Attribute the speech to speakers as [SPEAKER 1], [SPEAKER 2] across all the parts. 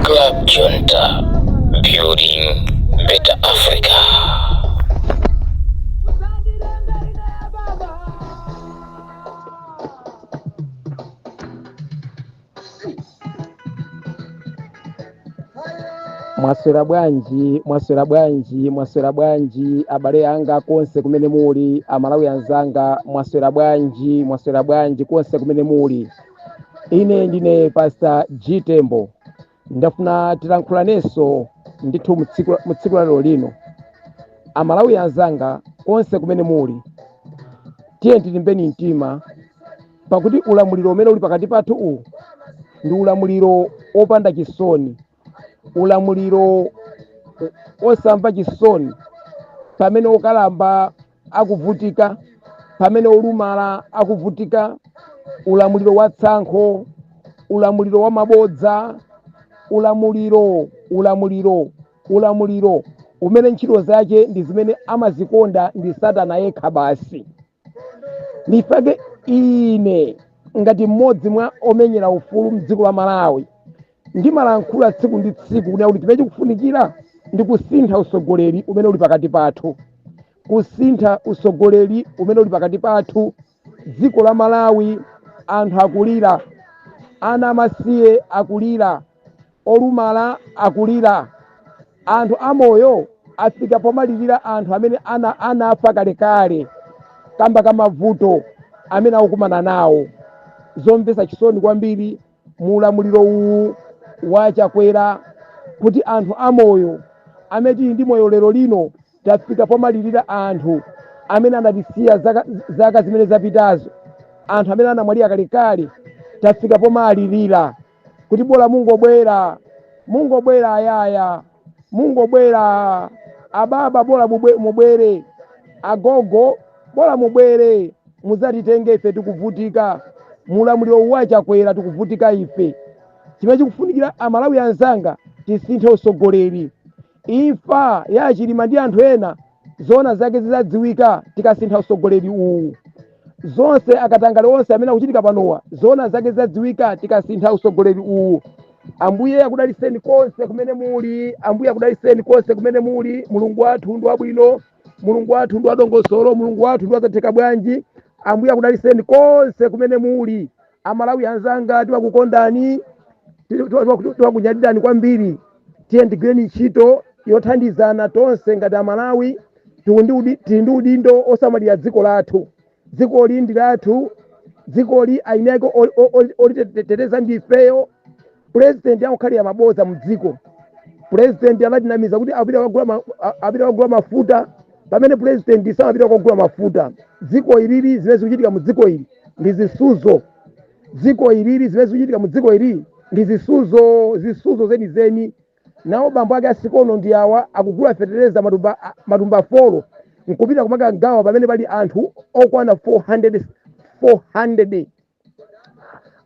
[SPEAKER 1] Club Junta, building better Africa.
[SPEAKER 2] mwaswera bwanji mwaswera bwanji mwaswera bwanji abale anga konse kumene muli amalawi anzanga mwaswera bwanji mwaswera bwanji konse kumene muli ine ndine pastor g tembo ndafuna tilankhulanenso ndithu mu tsiku la lero lino amalawi anzanga konse kumene muli tiye tilimbeni mtima pakuti ulamuliro umene uli pakati pathu uwu ndi ulamuliro wopanda chisoni ulamuliro osamva chisoni pamene okalamba akuvutika pamene olumala akuvutika ulamuliro wa tsankho ulamuliro wa mabodza ulamuliro ulamuliro ulamuliro umene ntchito zake ndi zimene amazikonda ndi satana yekha basi nchifukwa ine ngati mmodzi mwa omenyera ufulu mdziko la malawi ndimalankhula tsiku ndi tsiku kuti chimene chikufunikira ndi kusintha usogoleri umene uli pakati pathu kusintha usogoleri umene uli pakati pathu dziko la malawi anthu akulira ana amasiye akulira Olumala akulira, anthu amoyo afika pomalirira anthu amene anafa kalekale kamba ka mavuto amene akukumana nawo. Zomvesa chisoni kwambiri mu ulamuliro uwu wa Chakwera kuti anthu amoyo amene tili ndi moyo lero lino tafika pomalirira anthu amene anatisiya zaka zimene zapitazo. Anthu amene anamwalira kalekale tafika pomalirira. kuti bola mungobwera mungobwera ayaya mungobwera ababa bola mubwere agogo bola mubwere muzatitenge ife tikuvutika mulamuliro wa chakwera tikuvutika ife chimene chikufunikira amalawi anzanga tisinthe usogoleri Imfa ya Chilima ndi anthu ena zoona zake zizadziwika tikasintha usogoleri uwu. Zonse akatangale onse amene akuchitika panowa zoona zake zizadziwika tikasintha usogoleri uwu. Ambuye akudaliseni konse kumene muli, Ambuye akudaliseni konse kumene muli. Mulungu wathu ndi wabwino, Mulungu wathu ndi wadongosolo, Mulungu wathu ndi wazatheka bwanji. Ambuye akudaliseni konse kumene muli, amalawi anzanga timakukondani timakunyadirani kwambiri tiyeni tigwireni ntchito yothandizana tonse ngati amalawi tili ndi udindo osamalira dziko lathu dzikoli ndi lathu dzikoli eni ake oliteteza ndifeyo pulezidenti akukhalira mabodza mu dziko pulezidenti anatinamiza kuti apita kukagula ma- a- apita kukagula mafuta pamene pulezidenti samapita kukagula mafuta dziko ilili zimene zikuchitika mu dziko ili ndi zisuzo zisuzo zenizeni nawo bambo ake a sikono ndi awa akugula fetereza matumba a- matumba folo nkupita kumakagawa pamene pali anthu okwana 400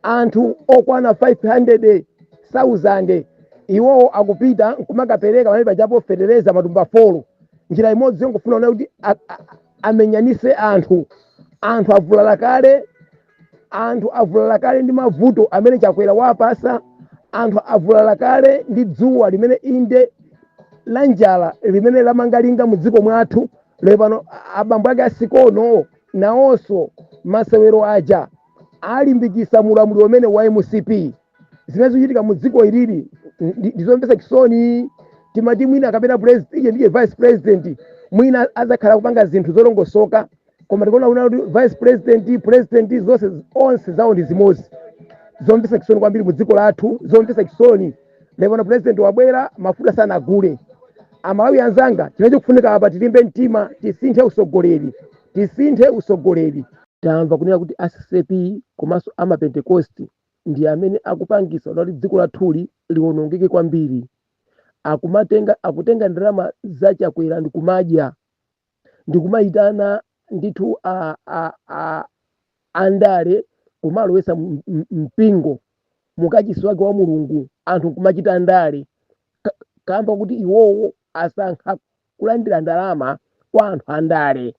[SPEAKER 2] anthu okwana 500,000 iwowo akupita nkumakapereka pamene pajapo fetereza matumba folo njira imodzi yongofuna kuona kuti a- a- amenyanise anthu anthu avulala kale anthu avulala kale ndi mavuto amene chakwera wapasa anthu avulala kale ndi dzuwa limene inde la njala limene lamanga linga mu dziko mwathu lero pano abambo ake a sikono Nawonso masewero aja alimbikisa mulamuliro umene wa mcp zimene zikuchitika mu dziko ilili ndi- ndizomvetsa chisoni timati mwina kapena president iye ndiye vice president mwina azakhala kupanga zinthu zolongosoka koma tikuona kuna kuti vice president president zonse onse zawo ndi zimodzi zomvetsa chisoni kwambiri mu dziko lathu zomvetsa chisoni lero pano president wabwera mafuta sanagule amalawi anzanga chimene chikufunika apa tilimbe mtima tisinthe usogoleri tisinthe usogoleri tamva kunena kuti a ccap komanso amapentekosti ndi amene akupangisa kuti dziko lathuli liwonongeke kwambiri akumatenga akutenga ndalama za chakwera ndikumadya ndikumayitana ndithu a, a, a, andale kumalowetsa m- m- mpingo mukachisi wake wa mulungu anthu kumachita ndale Ka- kamba kuti iwowo asankha kulandira ndalama kwa anthu andale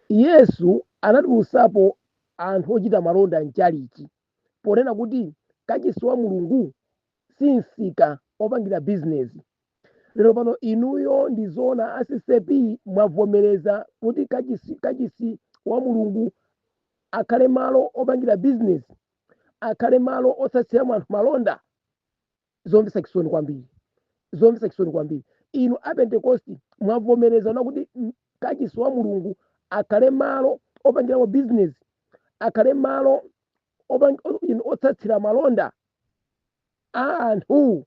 [SPEAKER 2] yesu anatulusapo anthu ochita malonda mchalichi ponena kuti kachisi wa mulungu si msika opangira bizinesi lero pano inuyo ndi zoona a ccap mwavomereza kuti kachisi kachisi wa mulungu akhale malo opangira bizinesi akhale malo otsatsiramo anthu malonda zomvetsa chisoni kwambiri zomvetsa chisoni kwambiri inu a pentekosti mwavomerezana kuti mm, kachisi wa mulungu akhale malo opangiramo bizinesi akhale malo opang- o- inu otsatsira malonda a anthu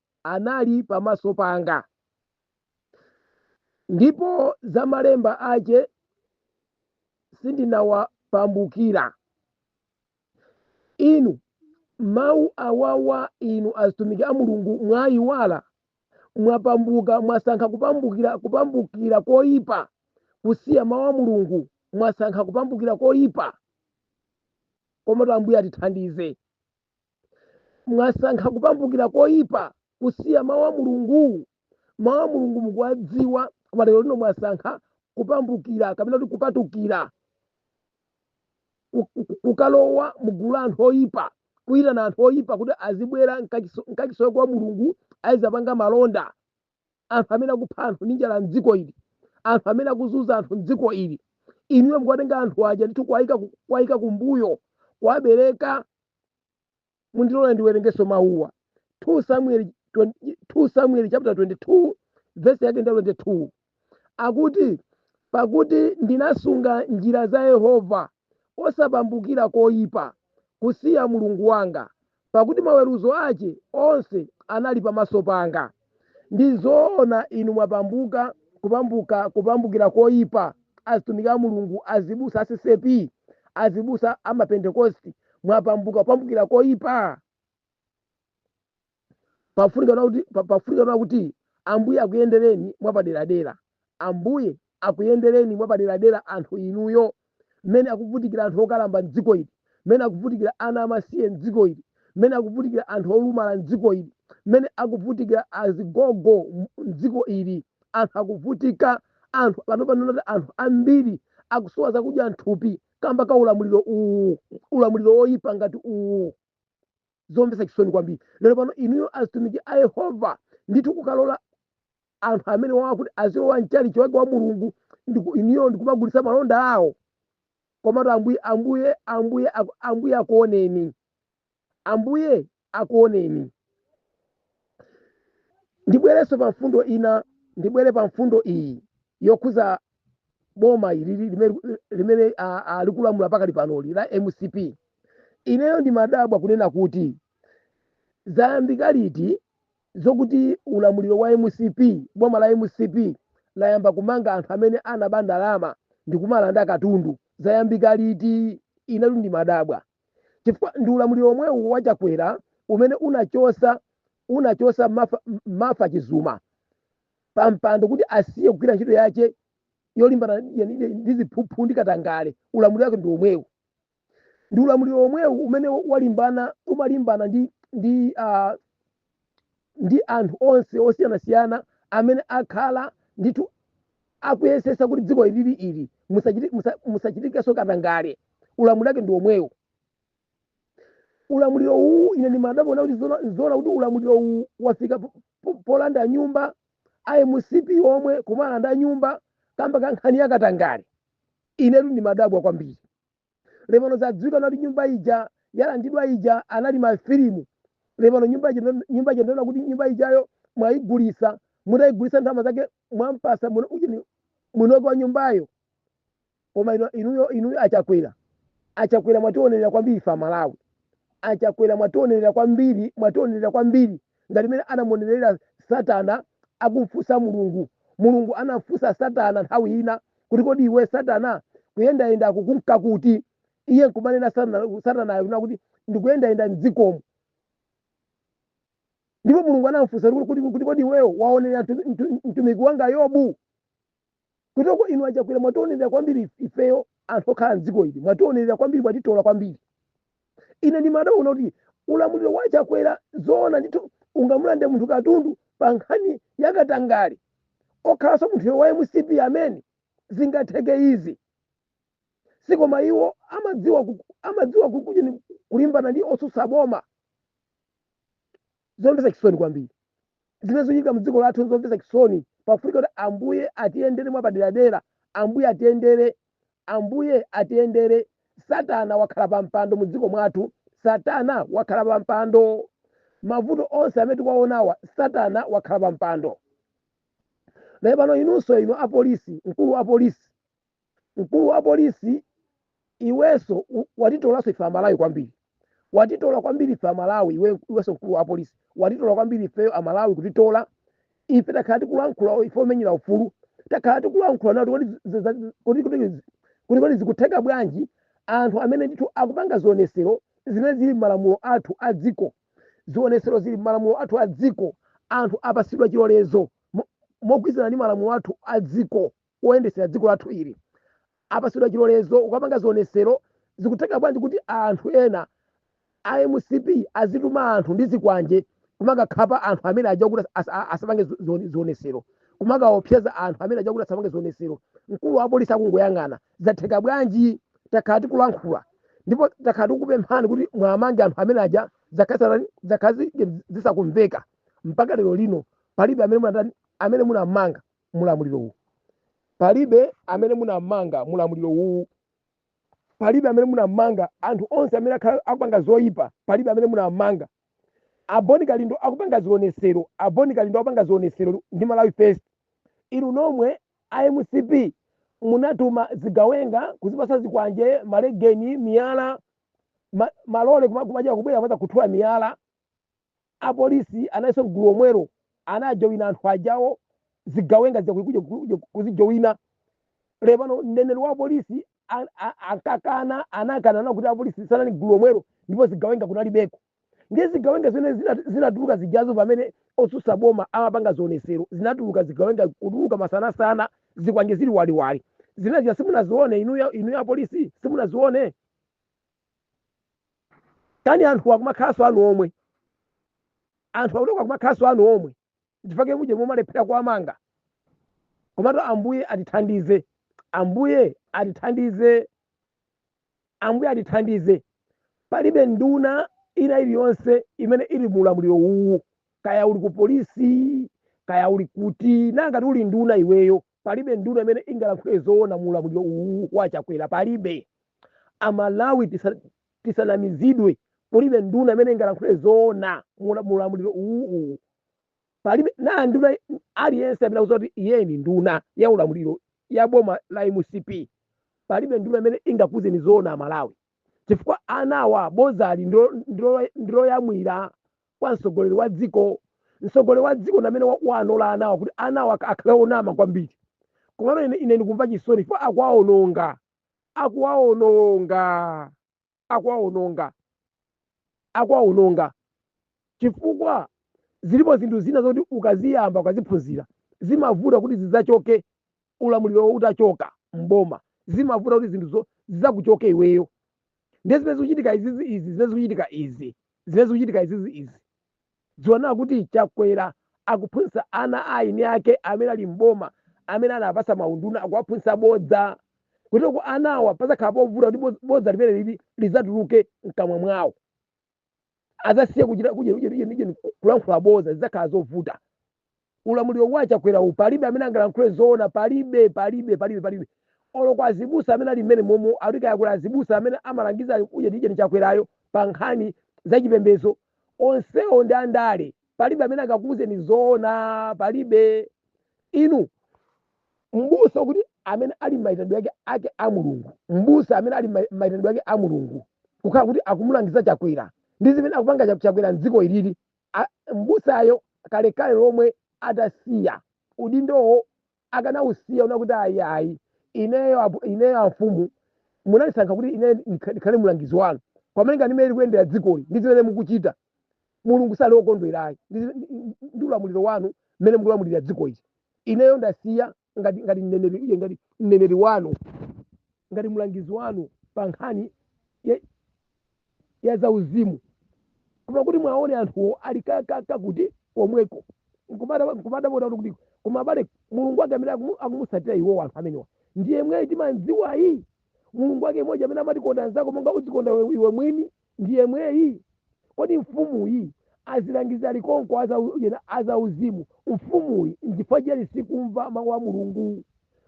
[SPEAKER 2] anali pamaso panga, ndipo za malemba ache sindinawapambukira. Inu, mau awawa inu azitumiki a Mulungu mwaiwala, mwapambuka, mwasankha kupambukira, kupambukira koipa, kusiya mau a Mulungu, mwasankha kupambukira koipa. Komatu Ambuye atithandize. mwasankha kupambukira koyipa kusiya mawu a mulungu mawu a mulungu mukuwadziwa koma lero lino mwasankha kupambukira kapena kuti kupatukira ku- ku- ku- kukalowa mugulu la anthu oyipa kuyitana anthu oyipa kuti azibwera mkachiso- mkachisoyo kwa mulungu azapanga malonda anthu amene akupha anthu ndi njala mdziko ili anthu amene akuzunza anthu mdziko ili inuyo mukuwatenga anthu aja ndithu kuwayika ku- kuwayika kumbuyo kuwabereka mundilole ndiwerengeso mawuwa 2 samuel 20 2 samuel chapter 22 verse yake ndi 22 akuti pakuti ndinasunga njira za yehova osapambukira koyipa kusiya mulungu wanga pakuti maweruzo ace onse anali pamaso panga. Ndi zoona inu mwapambuka kupambuka kupambukira koipa, azitumiki a Mulungu, azibusa a ccap, azibusa a ma Pentekosti, mwapambuka kupambukira koipa. Pafunika kuti pafunika kuti Ambuye akuyendereni mwapaderadera. Ambuye akuyendereni mwapaderadera anthu inuyo, mmene akuvutikira anthu okalamba mdziko ili, mmene akuvutikira ana amasiye mdziko ili, mmene akuvutikira anthu olumala mdziko ili, mmene akuvutikira azigogo mdziko ili, anthu akuvutika, anthu panopano oti anthu ambiri akusowa zakudya mthupi kamba ka ulamuliro uwu, ulamuliro woyipa ngati uwu. zomvetsa chisoni kwambiri lero pano inuyo azitumiki a yehova ndithu kukalola anthu amene wawa kuti azilowa mchalichi wake wa mulungu ndiku- inuyo ndikumagulitsa malonda awo komatu ambuye ambuye ambuye aku- ambuye akuoneni ambuye akuoneni ndibwerenso pa mfundo ina ndibwere pa mfundo iyi yokhuza boma ilili limene limene a- a- likulamula pakali panoli la mcp ineyo ndimadabwa kunena kuti zayambika liti zokuti ulamuliro wa mcp boma la mcp layamba kumanga anthu amene anaba ndalama ndi kumalanda katundu zayambika liti inetu ndimadabwa chifukwa ndi ulamuliro omwewu wa chakwera umene unachosa unachosa Martha, Martha chizuma pa mpando kuti asiye kugwira ntchito yace yolimbana ndi- ndi ndi ziphuphu ndi katangale ulamuliro wake ndi omwewu ndi ulamuliro omwewu umene walimbana umalimbana ndi ndi ah, ndi anthu onse osiyanasiyana amene akhala ndithu akuyesesa kuti dziko ilili ili musachiti- musa- musachitikenso katangale ulamuliro wake ndi omwewu ulamuliro uwu ine ndimadabwa kuti zona zona kuti ulamuliro uwu wafika po- po- polanda nyumba a mcp omwe kumalanda nyumba kamba ka nkhani ya katangale inetu ndimadabwa kwambiri lepano zadziwika kuti nyumba ija yalandidwa ija anali mafilimu lepano nyumba ija ndo- nyumba ija ndona kuti nyumba ijayo mwayigulisa mutayigulisa ndalama zake mwampasa muno- ujeni munoki wa nyumbayo koma inu, inuyo, inuyo achakwera achakwera mwationerera kwambiri ife amalawi achakwera mwationerera kwambiri mwationerera kwambiri ngati imene anamuonerera satana akumfunsa mulungu mulungu anafunsa satana nthawi ina kuti kodi iwe satana kuyendayenda ukunka kuti iye nkumanena satana- satanayo kunena kuti ndikuyendayenda mdzikomo ndipo mulungu anamfunsa kuti kuti- kuti kodi iweyo waonerera mtu- mtu- mtumiki wanga yobu kutoko inu achakwera mwationerera kwambiri if- ifeyo anthu okhala mdziko ili mwationerera kwambiri mwatitola kwambiri ine ndimadabwa kuti ulamuliro wa chakwera zoona ndithu ungamulande munthu katundu pa nkhani yakatangale okhalanso munthuyo wa mcp amene zingatheke izi sikoma iwo amadziwa ku- amadziwa kukuja ni- kulimbana ndi otsutsa boma zomvetsa chisoni kwambiri zimene zikuchitika mdziko lathu zomvetsa chisoni pafunika kuti ambuye atiyendere mwapaderadera ambuye atiyendere ambuye atiyendere satana wakhala pa mpando mu dziko mwathu satana wakhala pa mpando mavuto onse amene tikuwaonawa satana wakhala pa mpando nde pano inunso inu apolisi mkulu wa polisi mkulu wa polisi iweso u- watitolaso ife amalawi kwambiri watitola kwambiri ife amalawi iwe- iweso mkulu wa polisi watitola kwambiri ifeyo amalawi kutitola ife takhala tikulankhula ife omenyera ufulu takhala tikulankhula nkuti kodi zi- zi- kodi- kodi zi- kodi kodi zikutheka bwanji anthu amene ndithu akupanga zionesero zimene zili m'malamulo athu a dziko zionesero zili m'malamulo athu a dziko anthu apasidwa chilolezo mo- mogwirizana ndi malamulo athu a dziko oyendesera dziko lathu ili apasidwa chilolezo chokapanga zionesero zikutheka bwanji kuti anthu ena a mcp azituma anthu ndi zikwanje kumakakhapa anthu amene aja kuti as- a- asapange zi- zione- zionesero kumakaopseza anthu amene aja kuti asapange zionesero mkulu wa polisi akungoyang'ana zatheka bwanji takhala tikulankhula ndipo takhala tikukupemphani kuti mwamange anthu amene aja zakhala zi zakhala zisakumveka mpaka lero lino palibe amene munatani amene munamanga mulamuliro uwu palibe amene munammanga mulamuliro uwu palibe amene munammanga anthu onse amene akhala akupanga zoyipa palibe amene munammanga a Bon Kalindo akupanga zionesero a Bon Kalindo akupanga zionesero ndi malawi first inu nomwe a mcp munatuma zigawenga kuzipasa zikwanje malegeni miyala ma, malole kuma- kumaja kubwera kumazakhuthula miyala A police analinso mgulu omwewo anajowina anthu ajawo zigawenga zija kuja kuja kuzijowina ndiye pano mneneri wa police an- a- ankakana anakana na kuti a police sanali mgulu omwewo ndipo zigawenga kunalibeko ndiye zigawenga zimene zina- zinatuluka zijazo pamene otsutsa boma amapanga zionesero zinatuluka zigawenga kutuluka masanasana zikwanje zili waliwali zimene zija simunazione inuyo inuyo a police simunazione kani anthu akumakhalanso anu omwe anthu akutoka akumakhalanso anu omwe chifukwa chake muje mumalephera kuwamanga komatu ambuye atithandize ambuye atithandize ambuye atithandize palibe nduna ina iliyonse imene ili mu ulamuliro uwu kaya uli ku polisi kaya uli kuti nanga ngati uli nduna iweyo palibe nduna imene ingalankhule zoona mu ulamuliro uwu wa chakwera palibe amalawi tisa- tisanamizidwe kulibe nduna imene ingalankhule zoona mu ula- mu ulamuliro uwu uwu palibe na nduna aliyense amene akuti iye ni nduna ya ulamuliro ya boma la mcp palibe nduna imene ingakuuzeni zoona amalawi chifukwa anawa bozali ndilo- ndilo- ndiloyamwira kwa mtsogoleri wa dziko mtsogoleri wa dziko ndamene wawanola anawa kuti anawa ak- akhale onama kwambiri komano ine, ine ndikumva chisoni chifukwa akuwaononga akuwaononga akuwaononga akuwaononga chifukwa zilipo zinthu zina zoti ukaziyamba ukaziphunzira zimavuta kuti zidzachoke ulamulirowo utachoka m'boma zimavuta kuti zinthu zo- zidzakuchoke iweyo ndiye zimene zikuchitika izizi izi zimene zikuchitika izi zimene zikuchitika izizi izi ndikuona kuti chakwera akuphunzitsa ana a anyani ake amene ali m'boma amene anawapasa maunduna akuwaphunzitsa bodza kuti kwa anawa pazakhala povuta kuti boz- bodza limene lili lidzatuluke mkamwa mwawo azasiye kuchita kuje- kuje- kuje- kuje- kulankhula boza zizakhala zovuta ulamuliro wa chakwera uwu palibe amene angalankhule zoona palibe palibe palibe palibe olo kwa azibusa amene ali mmene momo alika yakula azibusa amene amalangiza kuje ti ujeni chakwerayo pa nkhani za chipembedzo onsewo ndi andale palibe amene angakuuzeni zoona palibe inu m'busa ukuti amene ali maitanidwe ake ake a mulungu m'busa amene ali mai- maitanidwe ake a mulungu kukhala kuti akumulangiza chakwera ndi zimene akupanga Cha- chakwera mdziko ilili A- m'busayo kalekale lomwe atasiya udindowo akanausiya kunena kuti ayi ayi ineyo apo- ineyo amfumu munandisankha kuti ine ndikha- ndikhale mulangizi wanu pamene ndi mmene likuyendera dzikoli ndi zimene mukuchita mulungu sali okondwerayi ndi ndi ulamuliro wanu mmene mukulamulira dziko ili ineyo ndasiya ngati ngati mneneri iye ngati mneneri wanu ngati mlangizi wanu pa nkhani ya, ya zauzimu koma kuti mwaone anthuwo ali ka- ka- kakuti komweko nkumadabwa kuti koma abale mulungu wake amene akumu- akumutsatira iwowo anthu amenewa ndi yemweyi timamdziwayi mulungu wake mmodzi amene amati konda mnzako monga udzikonda iwe- iwe mwini ndi yemweyi? Kodi mfumuyi azilangizi ali konko a zau- yena a zauzimu? Mfumuyi nchifukwa chiyani sikumva mawu a Mulungu?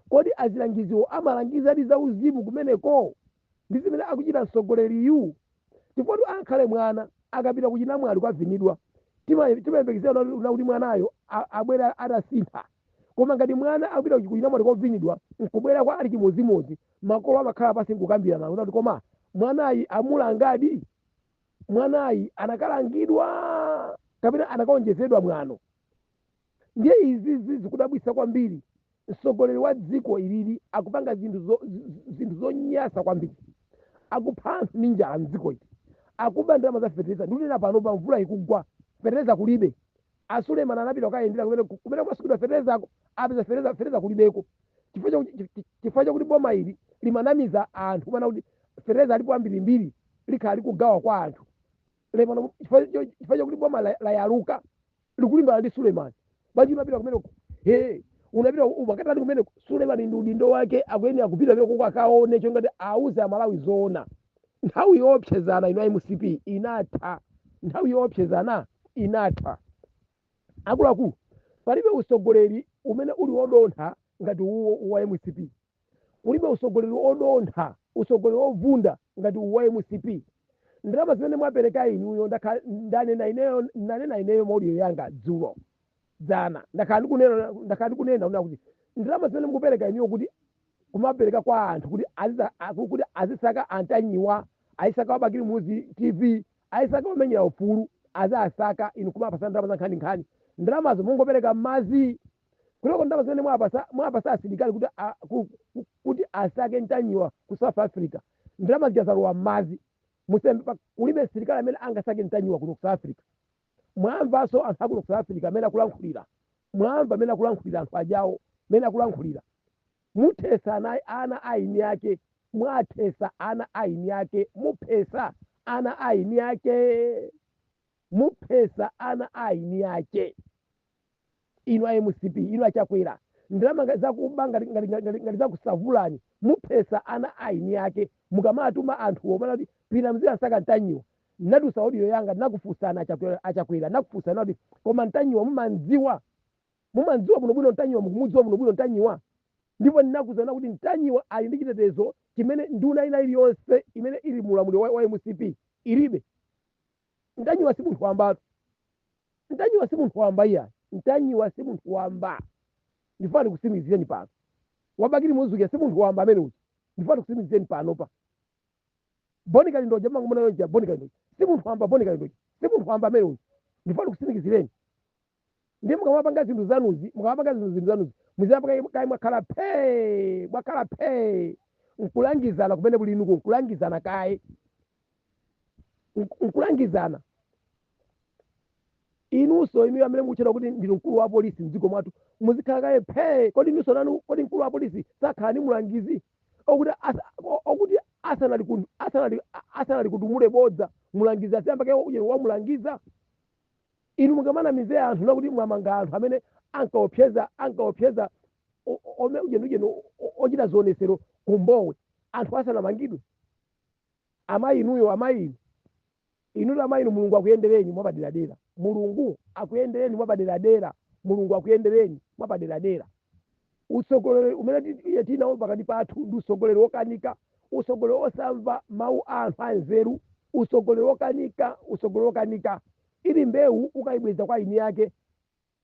[SPEAKER 2] Kodi azilangiziwo amalangizadi zauzimu kumeneko ndi zimene akuchita mtsogoleriyu? Chifukwatu ankhale mwana akapita kuchinamwali kukavinidwa, tima- timayembekezera kunena kuti mwanayo a- abwera atasintha. Koma ngati mwana akapita ku chinamwali kovinidwa nkubwera kwa ali chimodzimodzi, makolo amakhala pansi nkukambirana kunena kuti koma mwanayi amulangadi? Mwanayi anakalangidwa kapena anakaonjezedwa mwano? Ndiye izi zikudabwitsa kwambiri. Mtsogoleri wa dziko ilili akupanga zinthu zo- z- zinthu zonyansa kwambiri. Akupha anthu ndi njala m'dziko ili. Akuba ndalama za fetereza. Ndikunena panopa mvula ikugwa, fetereza kulibe. a Suleiman anapita kukayendera kumene ku- kumene kumasungidwa feterezako apeza fetereza fetereza kulibeko chifukwa chakuti chi- chi- chifukwa chakuti boma ili limanamiza anthu kumanena kuti fetereza alipo ambirimbiri likhala likugawa kwa anthu ndiye pano chifukwa cho- chifukwa chakuti boma la- layaluka likulimbana ndi Suleiman bwanji unapita kumeneko unapita umakatani kumeneko Suleiman ndi udindo wake akuyenera kupita kumeneko kuti akaone choncho kuti auze amalawi zoona nthawi yoopsezana inatha a mcp inatha nthawi yoopsezana inatha akuluakulu palibe usogoleri umene uli wodontha ngati uwo wa mcp kulibe usogoleri odontha usogoleri ovunda ngati uwo wa mcp ndalama zimene mwapereka inuyo ndakha- ndanena ineyo ndanena ineyo mmaudio yanga dzulo dzana ndakhala ndikunena ndakhala ndikunena kunena kuti ndalama zimene mukupereka inuyo kuti kumapereka kwa anthu kuti aziza- a- ku- kuti azisaka antanyiwa azisaka wabakili muzi tv azisaka womenyera ufulu azisaka inu kumawapasa ndalama za nkhani nkhani ndalamazo mukungopereka mmazi kuyambira ndalama zimene mwapasa mwapasa asilikali kuti a- ku- ku- kuti asake ntanyiwa ku south africa ndalama zija zalowa mmazi musembe pa- kulibe msilikali amene angasake ntanyiwa kuno ku south africa Mwamvanso anthu a kuno ku South Africa mmene akulankhulira? Mwamva mmene akulankhulira anthu ajawo mmene akulankhulira? Muthetsa ana, ana a eni ake, mwathetsa ana a eni ake, muphetsa ana a eni ake, muphetsa ana a eni ake. inu a mcp inu achakwera ndalama ngati zakuba ngati ngati ngati ngati- ngati zakusavulani muphetsa ana a eni ake mukamatuma anthuwo mana kuti pitani muzikasaka ntanyiwa natulutsa audio yanga nakufunsani achakwera achakwera nakufunsani kuti koma ntanyiwa mumamdziwa mumamdziwa bwinobwino ntanyiwa mukumudziwa bwinobwino ntanyiwa ndipo ndinakuuzani kuti ntanyiwa ali ndi chitetezo chimene nduna ina iliyonse imene ili mu ulamuliro wa, wa mcp ilibe Ntanyiwa si munthu wambatu. Ntanyiwa si munthu wamba iya. Ntanyiwa si munthu wamba. Ndifuna ndikutsimikizireni pano. Wa Bakili Muluzi si munthu wamba amene uja. Ndifuna ndikutsimikizireni panopa. Boni Kalindoja mumangomuona uja Boni Kalindoja. Si munthu wamba Boni Kalindoja. Si munthu wamba amene uja. Ndifuna ndikusimizireni. ndiye mukamapanga zinthu zanuzi mukamapanga zinthu zinthu zanuzi muziyamba kaye mwakhala phee mwakhala phee nkulangizana kumene kuli inuko nkulangizana kaye Nk- nkulangizana inunso inuyo amene mukutchedwa kuti ndinu mkulu wa polisi mdziko mwathu muzikhala kaye phee kodi inunso nanu kodi mkulu wa polisi sakhala ni mulangizi okuti asa- o- okuti asanali kun- asanali- a- asanalikutumule bodza mulangizi aziyamba kaye uye wamulangiza Inu mukamanamize anthu nakuti mwamanga anthu amene ankaopseza ankaopseza o- o- ome ujenujenu o- o- ochita zionesero ku Mbowe anthu asanamangidwe. Amayi inuyo amayi inu inutu amayi inu Mulungu akuyendereni mwapaderadera. Mulungu akuyendereni mwapaderadera. Mulungu akuyendereni mwapaderadera. Utsogoleri umene tiri nawo pakati pathu ndi utsogoleri wokanika, utsogoleri wosamva mau a anthu anzeru, utsogoleri wokanika, utsogoleri wokanika. Iri mbeu ukaibweza kwa eni ake,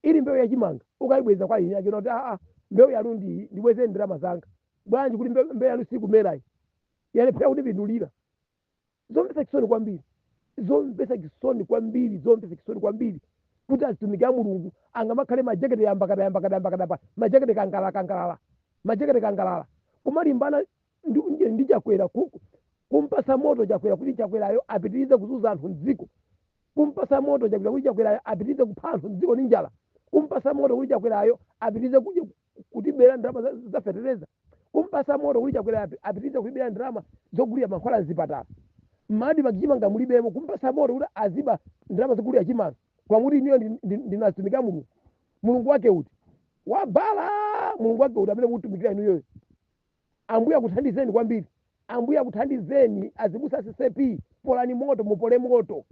[SPEAKER 2] iri mbeu ya chimanga ukaibweza kwa eni ake kunena kuti aa mbeu yanu ndi iyi ndibwezeni ndalama zanga bwanji kuti mbeu yanu sikumerayi yalephera kundipindulira. zomvetsa chisoni kwambiri zomvetsa chisoni kwambiri zomvetsa chisoni kwambiri kuti azitumiki a mulungu angamakhale majekete yambakada yambakada yambakada pa majekete kangalala kangalala majekete kangalala kumalimbana ndi, ndi, ndi chakwera ku- ku- kumpasa moto chakwera kuti chakwerayo apitirize kuzunza anthu mdziko kumpasa moto chakwera kuti chakwerayo apitirize kupha anthu mdziko ndi njala kumpasa moto kuti chakwerayo apitirize kudya- kutibera ndalama za- za fetereza kumpasa moto kuti chakwera api- apitirize kutibera ndalama zogulira mankhwala mzipatala mma admarc chimanga mulibemo kumpasa moto kuti aziba ndalama zogulira chimanga kumati inuyo ndi- ndi- ndinu atumiki a mulungu mulungu wake uti wa baala mulungu wake uti amene mukutumikira inuyoyo ambuye akuthandizeni kwambiri ambuye akuthandizeni azibusa a ccap polani moto mupole moto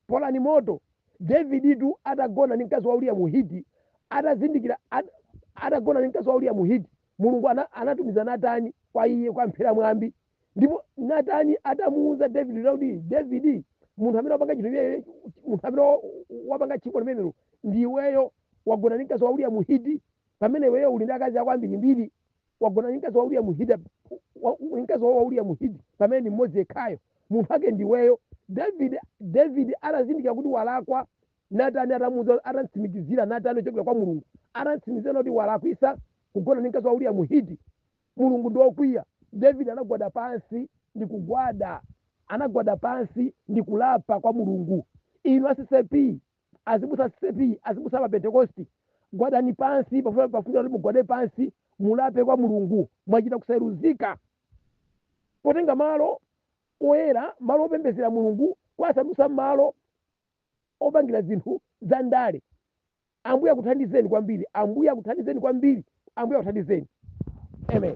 [SPEAKER 2] Polani moto. Daviditu atagona ndi mkazi wa Uriya Muhiti, atazindikira at, atagona ndi mkazi wa Uriya Muhiti, Mulungu ana, anatumiza Natani kwa iye kwamuphera mwambi. Ndipo Natani atamuwuza Davidi kuti Davidi, munthu amene wapanga chinthu chimenecho, munthu amene wa- wapanga tchimo limenelo ndi iweyo, wagona ndi mkazi wa Uriya Muhiti, pamene iweyo uli ndi akazi ako ambirimbiri. wagona ndi mkazi wa uriya muhiti wa- wa- mkazi wa uriya muhiti pamene ndi mmodzi yekhayo munthu ake ndiweyo david david anazindikira kuti walakwa natani atamuuza atamtsimikizira natani ochokera kwa mulungu atamtsimikizira kuti walakwisa kugona ndi mkazi wa uriya muhiti mulungu ndi wokwiya david anagwada pansi ndi kugwada anagwada pansi ndi kulapa kwa mulungu inu a CCAP azibusa a CCAP azibusa pa pentekosti gwadani pansi pafuni pafunika kuti mugwade pansi mulape kwa mulungu mwachita kusayeruzika potenga malo oyera malo opembezera mulungu kuwasandutsa malo opangira zinthu za ndale ambuye akuthandizeni kwambiri ambuye akuthandizeni kwambiri ambuye akuthandizeni amen